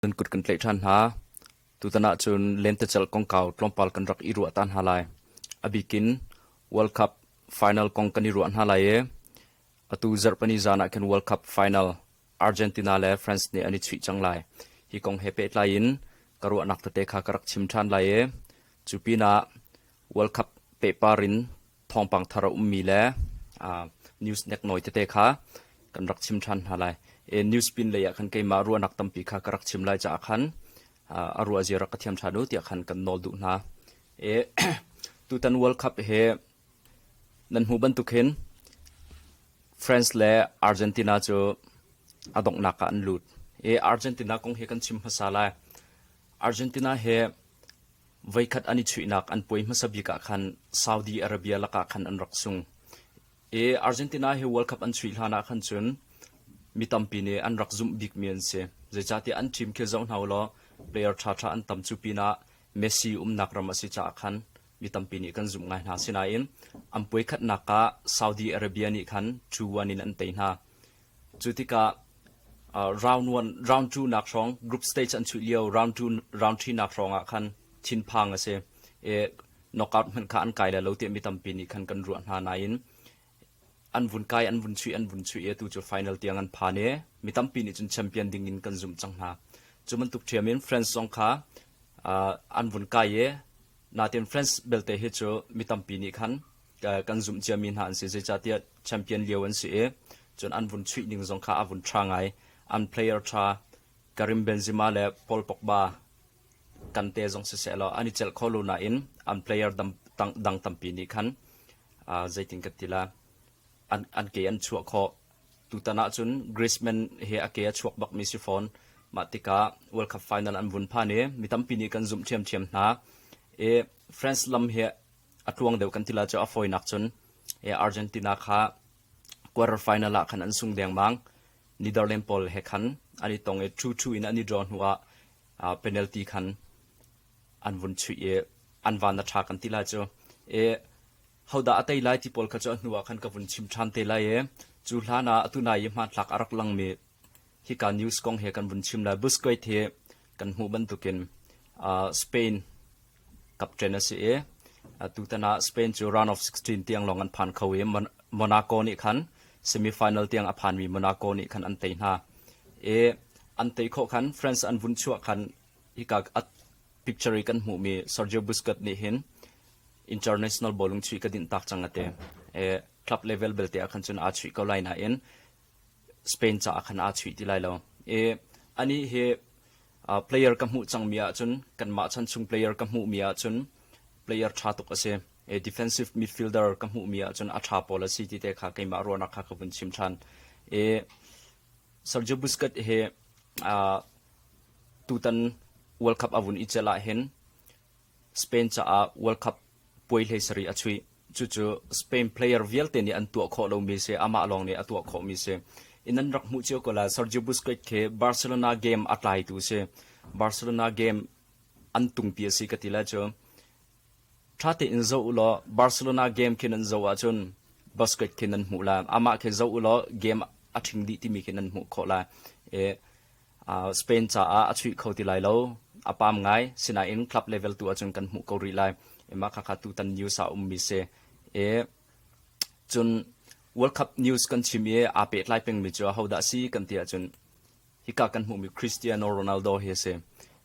nan kut kan tlaih ṭhan hna. Tutan ahcun lentecelh kongkau tlawmpal kan rak i ruah ta hna lai. A bikin World Cup final kong kan i ruah hna lai i atu zarhpani zan ah khin World Cup final Argentina le France nih an i chuih cang lai. Hi kong he pehtlai in ka ruahnak tete kha ka rak chim ṭhan lai i cu pinah World Cup pehpar in thawngpang thar a ummi le news nek nawi tete kha kan rak chim ṭhan hna lai. E, news pin lei ah khan keimah ruahnak tampi kha ka rak chim lai caah khan a ruah zia rak ka thiam ṭhan u tiah khan kan nawl duh hna. E, tutan World Cup he nan hmu bantuk hin France le Argentina cu a donghnak ah an lut. E, Argentina kong hi kan chim hmasa lai. Argentina he Voikhat an i chuihnak an puai hmasa bik ah khan Saudi Arabia lakah khan an rak sung i Argentina he World Cup an chuih hlan ah khan cun mi tampi nih an rak zumh bikmi an si. Zeicahtiah an ṭim khi zoh hna u law player ṭhaṭha an tam cu pinah Messi umnak ram a si caah khan mi tampi nih kan zumh ngai hna. Asinain an puai khatnak ah Saudi Arabia nih khan 2-1 in an tei hna. Cu tikah round two-nak hrawng group stage an chuih lio round three-nak hrawngah khan thinphang a si i knockout hmanh kha an kai lai lo tiah mi tampi nih khan kan ruah hna nain an vun kai an vun chuih an vun chuih i atu cu final tiang an phan i mi tampi nih cun champion ding in kan zumh cang hna cu bantuk ṭhiam in France zong kha an vun kai i natin France belte hi cu mi tampi nih khan kan zumh ciami hna an si zeicahtiah champion lio an si i cun an vun chuih ning zong kha a vun ṭha ngai an player ṭha Karim Benzema le Paul Pogba kante zong siseh law an i celh kho lo nain an player dang tampi nih khan zeitin ka tila an, an ke an chuah kho tutan ah cun Griezmann he a ke a chuak bakmi si fawn mah tikah World Cup final an vun phan i mi tampi nih kan zumh ṭhiamṭhiam hna i France lam he a tluang deuh kan ti la cu a fawinak cun Argentina kha quarter final ah khan an sung dengmang Netherlands pawl he khan an i tong i thu thu in an i draw hnu ah penalty khan an vun chuih i an van a tha kan ti la cu e hodah a tei lai ti pawl kha cu a hnu ah khan ka vun chim than te lai e cu hlan ah atu nai i hmanthlak a rak langmi hika news kong hi kan vun chim lai Busquets hi kan hmuh bantukin uh, Spain captain a si i tutan ah Spain cu round of 16 tiang lawng an phan kho i Monaco nih khan semi final tiang a phanmi Monaco nih khan an tei hna i an tei khawh khan France an vun chuah khan hika picture kan hmuhmi Sergio Busquets nih hin international bowling chuih ka din tak cang ate e club level belte a khan cun a chuih ko lai na in Spain caah khan aa chuih ti lai lo. I anih hi uh, player ka hmuh cangmi ahcun kanmah chan chung player ka hmuhmi ahcun player ṭha tuk a si. E, defensive midfielder ka hmuhmi ahcun a ṭha pawl a si ti te kha keimah ruahnak kha ka vun chim ṭhan. I Sergio Busquets hi uh, tutan World Cup a vun i celh ahhin Spain caah World Cup puai hleisarih a chuih. Cucu Spain player vialte nih an tuah khawh lomi si, amah lawng nih a tuah khawhmi si. In an rak hmuh cio ko lai. Sergio Busquets khi Barcelona game a tlaitu si. Barcelona game an tungpi a si ka ti le cu ṭha tein zoh u law Barcelona game khi nan zoh ahcun Busquets khi nan hmuh lai. Amah khi zoh u law game a ṭhing dih timi khi nan hmuh khawh lai. I Spain caah a chuih kho ti lai lo. A pam ngai. Sinain club level tu ahcun kan hmuh ko rih lai. Mah khakha tutan news ah a ummi si. I cun World Cup news kan chim i aa pehtlai pengmi cu ahodah si kan ti ahcun hika kan hmuhmi Cristiano Ronaldo hi a si.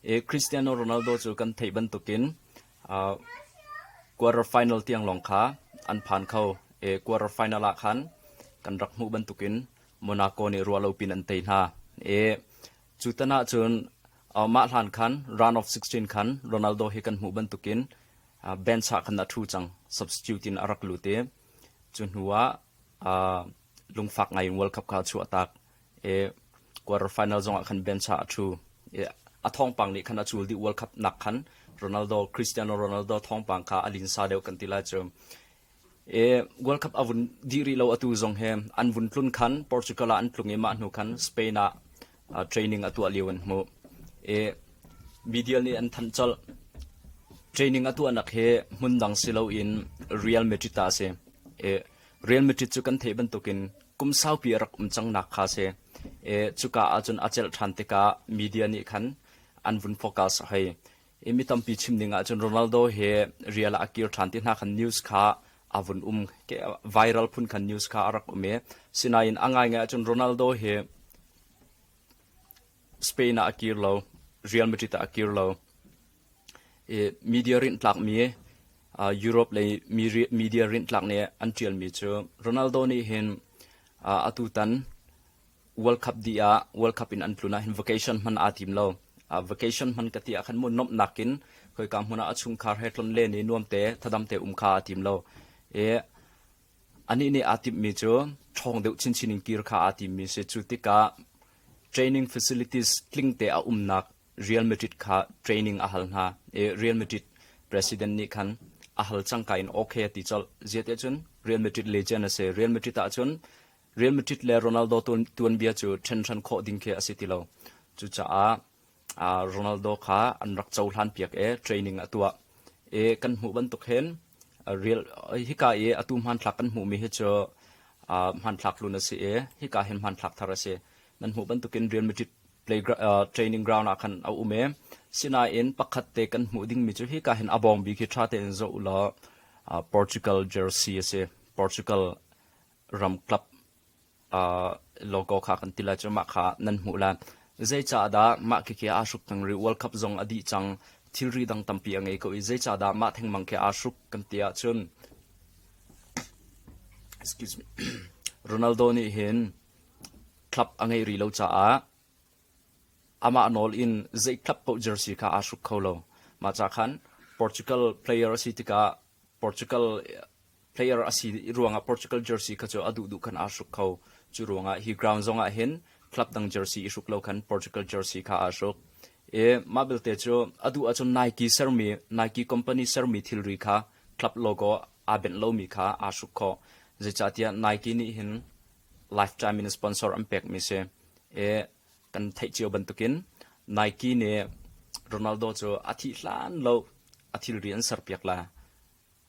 I Cristiano Ronaldo cu kan theih bantukin quarter final tiang lawng kha an phan kho. I quarter final ah khan kan rak hmuh bantukin Monaco nih ruah lo pin an tei hna i cu tan ah cun mah hlan khan round of 16 khan Ronaldo hi kan hmuh bantukin bench ah khan a thu cang substitute in a rak lut i cu hnu ah lungfak ngai in World Cup kha a chuah tak i quarter final zong ah khan bench ah a thu i a thawngpang nih khan a cul dih World Cup nak khan Ronaldo Cristiano Ronaldo thawngpang kha a linsa deuh kan ti lai cu World Cup a vun dih rih lo atu zong hi an vun tlun khan Portugal ah an tlung i mah hnu khan Spain ah training a tuah lio an hmuh. Media nih an thanh colh. Training a tuahnak hi hmun dang si loin Real Madrid ta a si. Real Madrid cu kan theih bantukin kum saupi a rak um cang nak kha si. Cuka ahcun a celh ṭhan tikah media nih khan an vun focus hei. I mi tampi chim ding ahcun Ronaldo hi rial ah a kir ṭhan ti hna khan news kha a vun um viral phun khan news kha a rak um i sinain a ngaingai ahcun Ronaldo hi Spain ah a kir lo Real Madrid ah a kir lo i media rintlakmi Europe lei media rintlak nih an ṭialmi cu Ronaldo nih hin atu tan World Cup dih ah World Cup in an tlun ah hin vacation hman aa tim lo. Uh, vacation hman ka ti ah khan mu nomh nakin khoika hmun ah a chungkhar he tlon le ni nuamte thadamte um kha aa tim lo. E, anih nih aa timmi cu ṭhawng deuh chinchin in kir kha aa timmi si. Cu tikah training facilities tlingte a umnak Real Madrid kha training a hal hna. E, Real Madrid president nih khan a hal cangka in okay a ti colh. Ziate cun Real Madrid legend a si. Real Madrid ah cun Real Madrid le Ronaldo tuanbia cu ṭhenhran khawh ding khi a si ti lo. Cucaah Ronaldo kha an rak cohlan piak i training a tuah i kan hmuh bantuk hin real hika i atu hmanthlak kan hmuhmi hi cu hmanthlak hlun a si i hika hin hmanthlak thar a si. Nan hmuh bantukin Real Madrid play training ground ah khan a um i sinain pakhat te kan hmuh dingmi cu hika hin a bawng bi khi ṭha tein zoh u law Portugal jersey a si. Portugal ramkap logo kha kan ti lai cu mah kha nan hmuh lai. Zeicahdah mah khikhi aa hruk theng rih World Cup zong a dih cang thilri dang tampi a ngei ko i zeicahdah mah thengmang khi aa hruk kan ti ahcun excuse me Ronaldo nih hin club a ngei rih lo caah amah nawl in zei club paoh jersey kha aa hruk kho lo mah ca khan Portugal player a si tikah Portugal player a si ruangah Portugal jersey kha cu a duh duh khan aa hruk kho. Cu ruangah hi ground zongah hin club dang jersey i hruk lo khan Portugal jersey kha aa hruk. I mah belte cu a duh ahcun Nike sermi Nike company sermi thilri kha club logo aa benh lomi kha aa hruk khawh. Zeicahtiah Nike nih hin lifetime in sponsor an pekmi si. I kan theih cio bantukin Nike nih Ronaldo cu a thih hlan lo a thilri an serpiak la.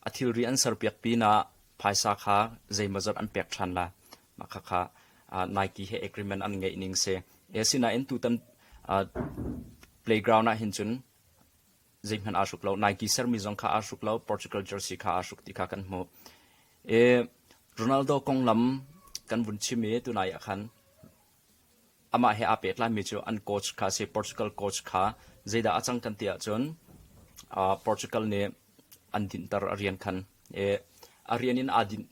A thilri an serpiak pinah phaisa kha zeimawzat an pek ṭhan la. Mah khakha Nike he agreement an ngeih ning si. Asinain tutan playground ah hin cun zeihmanh aa hruk lo. Nike sermi zong kha aa hruk lo. Portugal jersey kha aa hruk ti kha kan hmuh. Ronaldo konglam kan vun chim i tunai ah khan Amah he aa pehtlaimi cu an coach kha a si. Portugal coach kha zeidah a cang kan ti ahcun uh, Portugal nih an dinhter a rian khan i a rian in aa dinh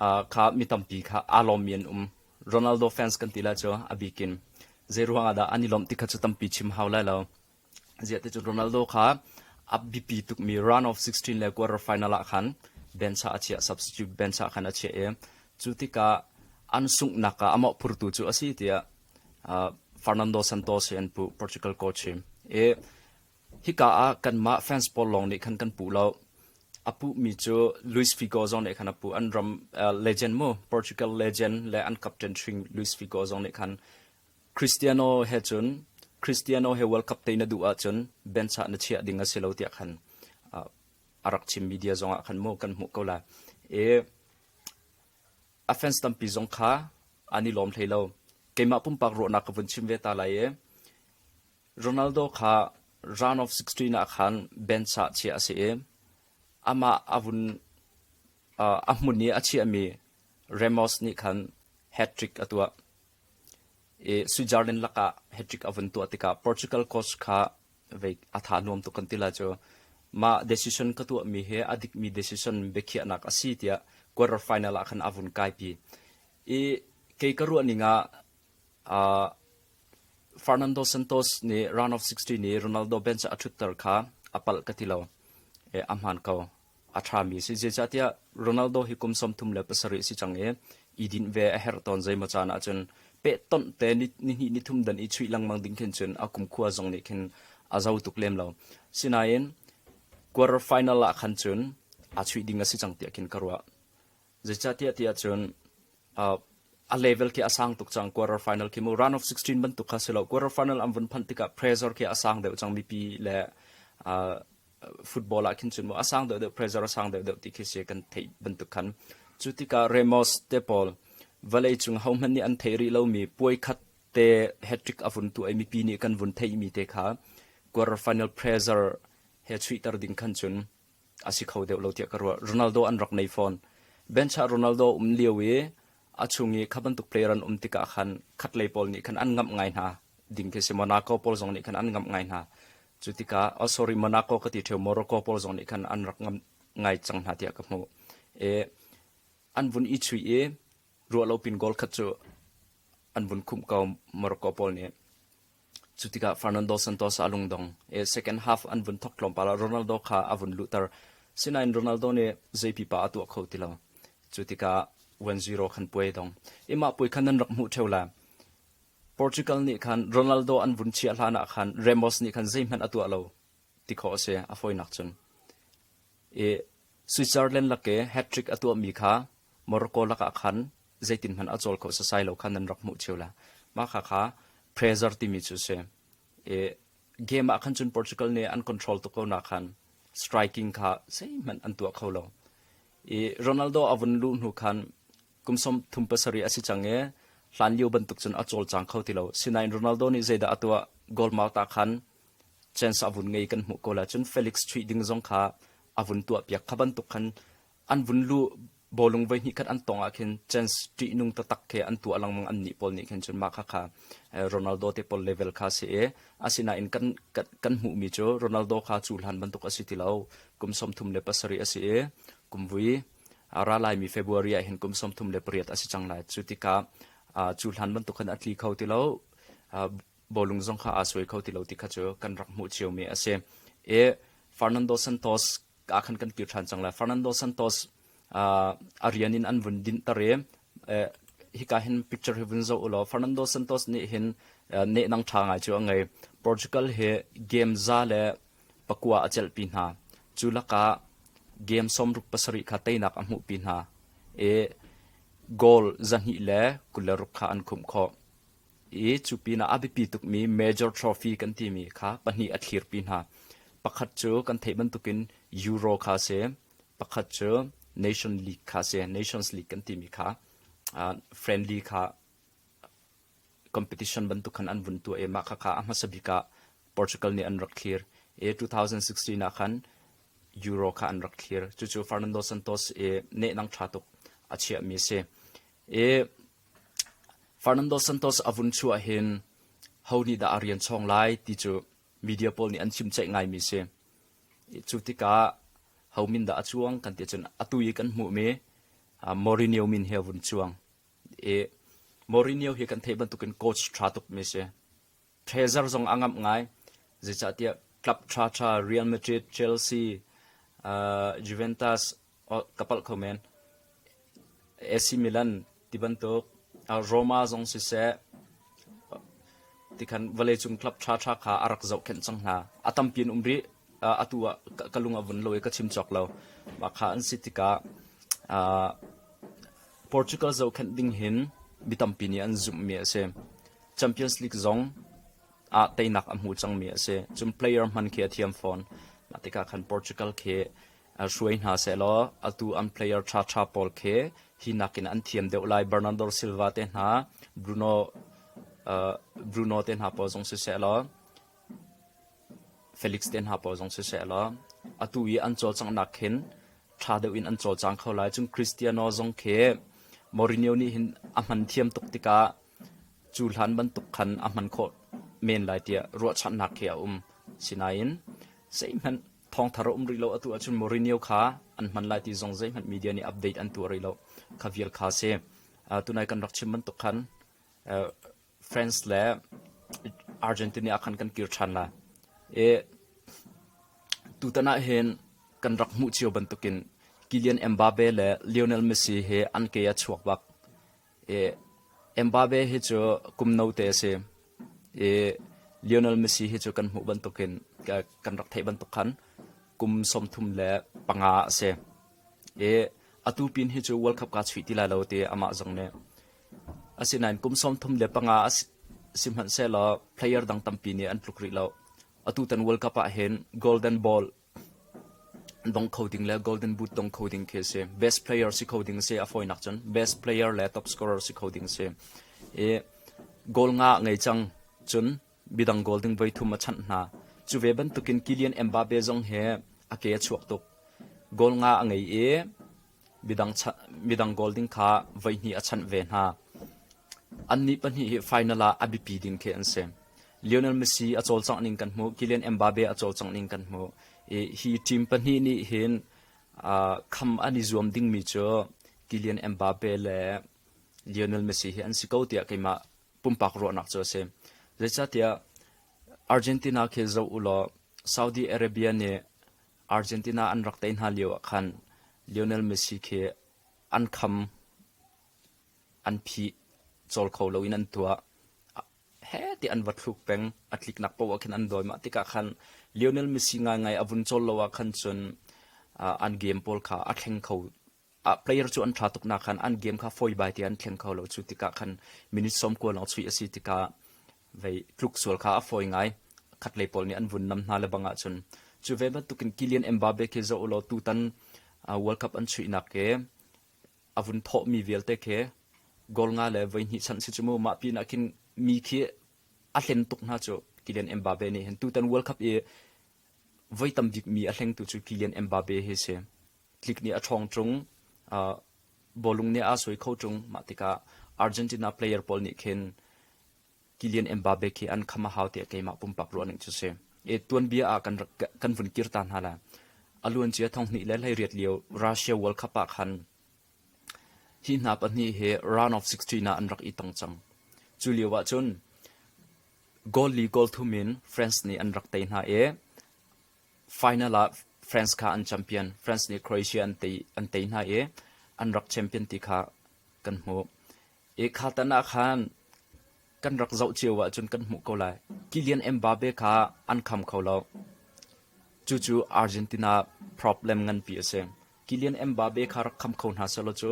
uh, kha mi tampi kha aa lawmmi an um. Ronaldo fans kan ti la cu a bikin zei ruangah dah an i lawmh ti kha cu tampi chim hau lai lo. ziate cu Ronaldo kha a biapi tukmi round of 16 le quarter final ah khan Bencha a chiah substitute Bencha khan a chiah i cu tikah an sunghnak ah amah phurtu cu a si tiah uh, Fernando Santos hi an pu Portugal coach hi e hika ah kanmah fans pawl lawng nih khan kan pu lo apu mi cu Luis Figo zong nih khan apu an ram uh, legend mu Portugal legend le an captain hring Luis Figo zong nih khan Cristiano he cun Cristiano he World Cup te na duh ahcun benchah na chiah ding a si lo tiah khan a rak chim media zongah khan mu kan hmuh ko la i a fans tampi zong kha an i lawm hlei lo keimah pumpak ruahnak ka vun chim ve ta lai i Ronaldo kha round of 16 ah khan benchah chiah a si i amah a vun a hmun i a chiahmi Ramos nih khan hat trick a tuah i Switzerland lakah hattrick a vun tuah tikah Portugal coach kha vei a tha nuam tuk kan ti la cu mah decision ka tuahmi hi a dikmi decision biakhiahnak a si tiah quarter final ah khan a vun kaipi i kei ka ruahning ah uh, Fernando Santos nih round of 16 i Ronaldo bench a thutter kha a palh ka ti lo e, a hmaan ko A ṭhami a si. Zeicahtiah Ronaldo hi kum sawmthum le pasarih a si cang i i dinh ve a herh tawn. Zeimaw caan ahcun pehtonh te nihnih nithum dan i chuih lengmang ding khin cun a kumkhua zong nih khin a zo tuk lem lo. Sinain quarter final ah khan cun a chuih ding a si cang tiah khin ka ruah. Zeicahtiah ti ahcun uh, a level khi a sang tuk cang quarter final khi mu round of 16 bantuk kha si lo quarter final an vun phanh tikah pressure khi a sang deuh cang mipi le uh, football ah khin cun maw a sang deuhdeuh pressure a sang deuhdeuh ti khi si kan theih bantuk khan cu tikah Ramos te pawl vawlei cung hohmanh nih an thei rih lomi puai khat te hat-trick a vun tu ai mipi nih kan vun theihmi te kha quarter final pressure he chuihter ding khan cun a si kho deuh lo tiah ka ruah Ronaldo an rak nei fawn bencha Ronaldo um lio i a chung i kha bantuk player an um tikah khan khatlei pawl nih khan an ngamh ngai hna ding khi si Monaco pawl zong nih khan an ngamh ngai hna cu tikah oh sorry Monaco ka ti theo Morocco pawl zong nih khan an rak ngam ngai cang hna tiah ka hmuh e an vun i chui i ruah lo pin goal khat cu an vun khumh ko Morocco pawl nih cu tikah Fernando Santos a lung dong e second half an vun thok tlawmpal ah Ronaldo kha a vun luhter sinain Ronaldo nih zei pipa a tuah kho ti lo cu tikah 1-0 khan puai dong imah puai khan nan rak hmuh theo la Portugal nih khan Ronaldo an vun chiah hlan ah khan Ramos nih khan zeihmanh a tuah lo ti khawh a si. A fawinak cun i Switzerland lake hat-trick a tuahmi kha Morocco lakah khan zeitin hmanh a cawl kho sasai lo kha nan rak hmuh cio le mah kha kha pressure timi cu a si. I game ah khan cun Portugal nih an control tuk ko nak khan striking kha zeihmanh an tuah kho lo. I Ronaldo a vun luh hnu khan Kum sawmthum pasarih a si cang i hlanlio bantuk cun a cawlcang kho ti lo. Sinain Ronaldo nih zeidah a tuah? Goal mar ta khan chance a vun ngei kan hmuh ko lai. Cun Felix chuih ding zong kha a vun tuahpiak. Kha bantuk khan an vun luh bawlung voi hnih khat an tawng ahkhin chance ṭihnung taktak khi an tuah lengmang annih pawl nih khin cun mah khakha Ronaldo te pawl level kha a si i asinain kan kan hmuhmi cu Ronaldo kha cu hlan bantuk a si ti lo. Kum sawmthum le pasarih a si i kum vui a ra laimi February ah hin kum sawmthum le pariat a si cang lai. Cu tikah cu hlan bantuk khan a tli kho ti lo. Bawlung zong kha aa suai kho ti lo ti kha cu kan rak hmuh ciomi a si. E Fernando Santos aa khan kan kir ṭhan cang lai. Fernando Santos a rian in an vun dinhter i hika hin picture hi vun zoh u law Fernando Santos nih hin nehnang ṭha ngai cu a ngei. Portugal hi game za le Pakua a celhpi hna. Cu lakah game sawmruk pasarih kha teinak a hmuhpi hna i goal zahnih le kul le ruk kha an khumh khawh. I cu pinah a biapi tukmi major trophy kan timi kha pahnih a thlirpi hna. Pakhat cu kan theih bantukin Euro kha a si. Pakhat cu Nation League kha a si. Nations League kan timi kha uh, friendly kha competition bantuk khan an vun tuah i mah khakha a hmasa bik ah Portugal nih an rak thlir i 2016 ah khan Euro kha an rak thlir cucu Fernando Santos i nehnang ṭha tuk a chiahmi si i Fernando Santos a vun chuah hin ho nih dah a rian chong lai ti cu media pawl nih an chim ceih ngaimi si cu tikah ho min dah a cuang kan ti cun atu i kan hmuhmi Mourinho min hi a vun cuang Mourinho hi kan theih bantukin coach ṭha tukmi a si. Treasure zong a ngamh ngai. Zeicahtiah club ṭhaṭha Real Madrid, Chelsea, uh, Juventus ka palh kho men. AC Milan ti bantuk uh, Roma zong siseh tikhan vawleicung club ṭhaṭha kha a rak zohkhenh cang hna. A tampi an um rih. Uh, atu ah ka lung a vun lo i ka chim cawk lo. Mah kha an si tikah uh, Portugal zohkhenh ding hin mi tampi nih an zumhmi a si. Champions League zong ah teinak a hmu cangmi a si. Cun player hman khi a thiam fawn. Mah tikah khan Portugal khi hruai hna sehlaw atu an player ṭhaṭha pawl khi hi nakin an thiam deuh lai. Bernardo Silva te hna, Bruno, Bruno te hna pawl zong siseh law Feliks te hna pawl zong sisehlaw atu i an cawlcanghnak khin ṭha deuh in an cawlcang kho lai. Cun Kristiano zong khi Mourinho nih hin a hman thiam tuk tikah cu hlan bantuk khan a hman khawh men lai tiah ruahchanhnak khi a um. Sinain zeihmanh thawngthar a um rih lo atu ahcun Mourinho kha an hman lai ti zong zeihmanh media nih update an tuah rih lo. Kha vial kha a si. Uh, tunai kan rak chim bantuk khan uh, France le Argentina ah khan kan kir ṭhan lai i tutan ah hin kan rak hmuh cio bantukin Kylian Mbappe le Lionel Messi hi an ke a chuak bak i Mbappe hi cu kum note a si i Lionel Messi hi cu kan hmuh bantukin kan rak theih bantuk khan kum sawmthum le panga a si i atu pin hi cu World Cup kaa chuih ti lai lo ti amah zong nih Asinain kum sawmthum le panga sihmanhsehlaw player dang tampi nih an tluk rih lo. Atutan World Cup ahhin golden ball dong kho ding le golden boot dong kho ding khi a si. Best player si kho ding a si. A fawinak cun best player le top scorer si kho ding a si. I goal nga a ngei cang cun bidang goal ding voi thum a chanh hna. Cu ve bantukin Kylian Mbappe zong he a ke a chuak tuk. Goal nga a ngei i Midang goal ding kha voihnih a chanh ve hna. Annih pahnih hi final ah a biapi ding khi an si. Lionel Messi a cawlcangh ning kan hmuh. Kylian Mbappe a cawlcangh ning kan hmuh. I hi team pahnih nih hin kham an i zuam dingmi cu Kylian Mbappe le Lionel Messi hi an si ko tiah keimah pumpak ruahnak cu a si. Zeicahtiah Argentina khi zoh u law Saudi Arabia nih Argentina an rak tei hna lio ah khan Lionel Messi khi an kham an phih cawl kho lo in an tuah he ti an va thluk peng a tliknak poah khin an doi mah tikah khan Lionel Messi ngaingai a vun cawl lo ah khan cun an game pawl kha a thleng kho ah player cu an ṭha tuk nak khan an game kha fawibai te an thleng kho lo cu tikah khan minute sawm kua lawng chuih a si tikah vei tluk sual kha a fawi ngai khatlei pawl nih an vun nam hna lebang ah cun cu ve bantukin Kylian Mbappe khi zoh law tutan World Cup an chuihnak ke a vun thawh mi vialte ke goal nga le voi hnih chan si cu mu mah pin ah khin mi khi a hlen tuk hna cu Kylian Mbappe nih hin tutan World Cup i voi tam bik mi a hlengtu cu Kylian Mbappe hi si tlik nih a ṭhawng ṭung. Uh, bawlung nih a soi kho ṭung. Mah tikah Argentina player pawl nih khin Kylian Mbappe khi an kham a hau tiah keimah pumpak ruahning cu si. E tuanbia ah kan kan vun kir ta hna la. A luan cia thong hnih le hlei riat lio Russia World Cup ah khan hi hna pahnih hi round of 16 ah an rak i tong cang. Cu lio ah cun goal li goal thum in France nih an rak tei hna i Final ah France kha an champion. France nih Croatia an tei hna i an rak champion ti kha kan hmuh. I kha tan ah khan kan rak zoh cio ahcun kan hmuh ko lai. Kylian Mbappe kha an kham kho lo. Cucu Argentina problem nganpi a si. Kylian Mbappe kha rak kham kho hna selaw cu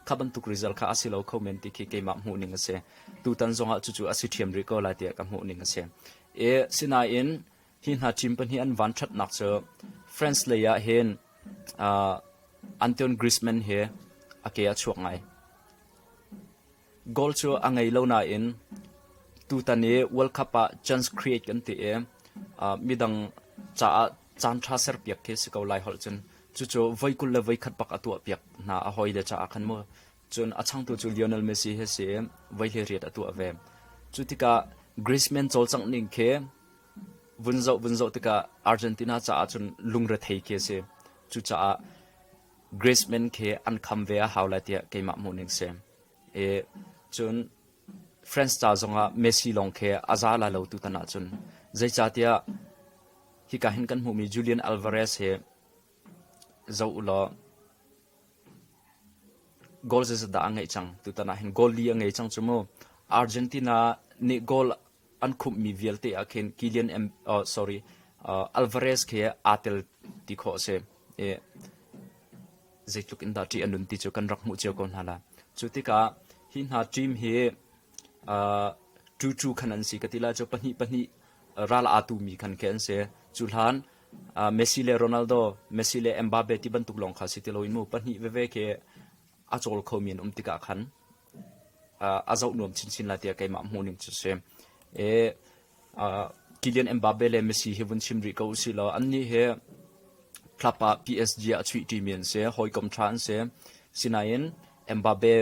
kha bantuk result kha a si lo kho men ti khi keimah hmuhning a si. Tutan zongah cucu a si ṭhiam rih ko lai tiah ka hmuhning a si. I sinain hi hna team pahnih an vanṭhatnak cu France lei ah hin uh, Antoine Griezmann hi a ke a chuak ngai. Goal cu a ngei lo nain tutan i World Cup ah chance create kan ti i uh, midang caah caan ṭha ser piak khi si ko lai holh cun cucu voi kul le voi khat bak a tuah piak hna a hoi le caah khan mu cun a changtu cu Lionel Messi he si voi hleiriat a tuah ve cu tikah Griezmann cawlcangh ning khi Vun zoh vun zoh tikah Argentina caah cun lungrethei khi a si. Cucaah Griezmann khi an kham ve a hau lai tiah keimah hmuhning si. I cun France ca zongah Messi lawng khi a za lai lo tutan ahcun. Zeicahtiah hika hin kan hmuhmi Julian Alvarez hi zoh u law goal zezadah a ngeih cang. Tutan ah hin goal li a ngei cang cu mu. Argentina nih goal an khumhmi vialte ah khin Kilian oh, sorry, uh, Alvarez khi aa tel ti khawh a si. I, zeitluk in dah ṭih a nun ti cu kan rak hmuh cio ko hna la. Cu tikah hi hna team hi uh, tu tu khan an si ka ti la cu pahnih pahnih ral atu mi khan ke an si cu hlan uh, Messi le Ronaldo Messi le Mbappe ti bantuk lawng kha si ti lo in mu pahnih veve ke a chol kho mi an um tikah khan a zoh nuam chinchin lai tiah keimah hmuhning cu si. E, uh, Kylian Mbappe le Messi hi vun chim rih ko usih law annih hi club ah PSG a chuih ṭimi an si, hawikom ṭha an si. Sinain Mbappe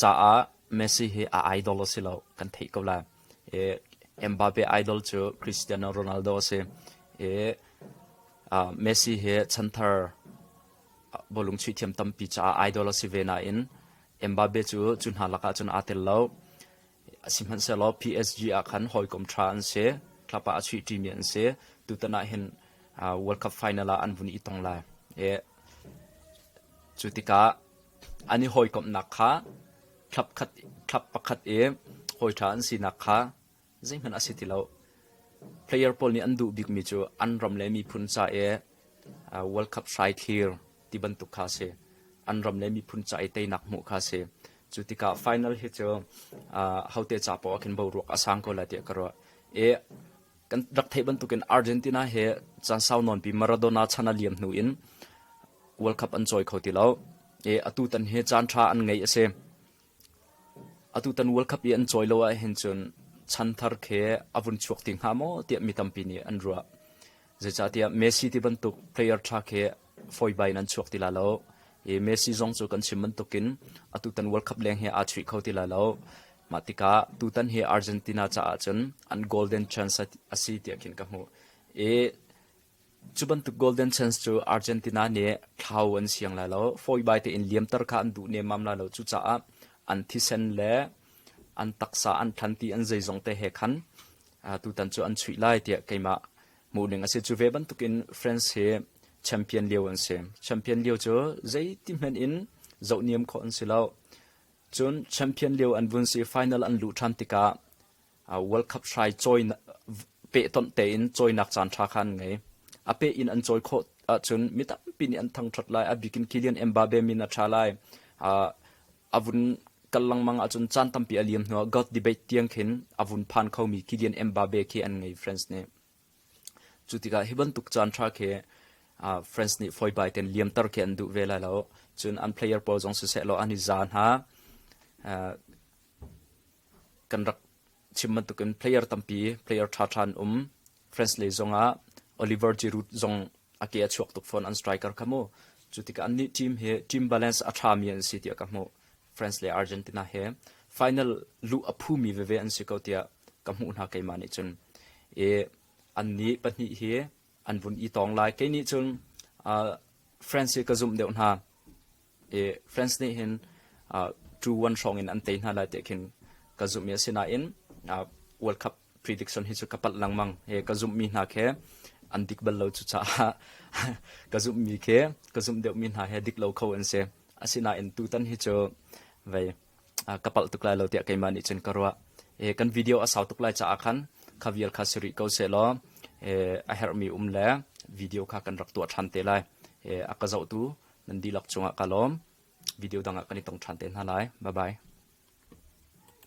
caah Messi hi a idol a si lo kan theih ko lai. E, Mbappe idol cu Cristiano Ronaldo a si. E, uh, Messi hi chanthar bolung chuih thiam tampi caah idol a si ve nain Mbappe cu cu hna lakah cun aa tel lo. Sihmanhsehlaw PSG ah khan hawikom ṭha an si. Club ah a chuihṭimi an si. Tutan ah hin World Cup final ah an vun i tong lai. Cu tikah an i hawikomhnak kha club, khat, club pakhat i hawi ṭha an sinak kha Zeihmanh a si ti lo. Player pawl nih an duh bikmi cu an ram le miphun ca i World Cup hrai thlir ti bantuk kha a si. An ram le miphun ca i teinak hmuh kha a si. Cu tikah final hi cu hote ca paoh ah khin boruak a sang ko lai tiah ka ruah. I kan rak theih bantukin Argentina he caan sau nawnpi Maradona chan a liam hnu in World Cup an cawi kho ti lo. I atu tan hi caan ṭha an ngei a si. Atutan World Cup i an cawi lo ahhin cun chanthar khi a vun chuak ti hnga maw tiah mi tampi nih an ruah. Zeicahtiah Messi ti bantuk player ṭha khi fawibai in an chuak ti la lo. I Messi zong cu kan chim bantukin atutan World Cup leng hi aa chuih kho ti lai lo. Mah tikah tutan hi Argentina caah cun an golden chance a si tiah khin ka hmuh. I Cu bantuk golden chance cu Argentina nih thlau an siang lai lo, fawibai tein liamter kha an duh nemmam lai lo. Cucaah an thisen le an taksa an thlan ti an zeizong te he khan tutan cu an chuih lai tiah keimah hmuhning a si. Cu ve bantukin France hi champion lio an si. Champion lio cu zeiti hmanh in zohniam khawh an si lo. Cun champion lio an vun si final an luh ṭhan tikah World Cup hrai cawi pehtonh tein cawinak caan ṭha kha an ngei. A peh in an cawi khawh ahcun mi tampi nih an thangṭhat lai. A bik in Kylian Mbappe min a ṭha lai. A vun kal lengmang ahcun caan tampi a liam hnuah God debate tiang khin a vun phan khomi Kylian Mbappe khi an ngei France nih. Cu tikah hi bantuk caan ṭha khi France nih fawi bai tein liamter khi an duh ve lai lo. Cun an player pawl zong siseh law an i za hna. kan rak chim bantukin player tampi player ṭhaṭha an um. France le zong ah Oliver Giroud zong a ke a chuak tuk fawn an striker kha mu. Cu tikah annih team hi team balance a ṭhami an si tiah ka hmuh. France le Argentina he final luh a phumi veve an si ko tiah ka hmuh hna keimah nih cun. E, an nih pahnih hi an vun i tong lai. Kei nih cun uh, France hi ka zumh deuh hna. i France nih hin two one hrawng in an tei hna lai tiah khin ka zumhmi a si nain World Cup prediction hi cu ka palh lengmang he ka zumhmi hna khi an dik bal lo cu caah ka zumhmi khi ka zumh deuhmi hna he dik lo kho an si asinain tutan hi cu vei ka palh tuk lai lo tiah keimah nih cun ka ruah e kan video a sau tuk lai caah khan kha vial kha si rih ko se law e a herhmi um le video kha kan rak tuah ṭhan te lai e a ka zohtu nan dihlak cungah ka lawm. Video dangah kan i tong ṭhan te hna lai. Bye bye.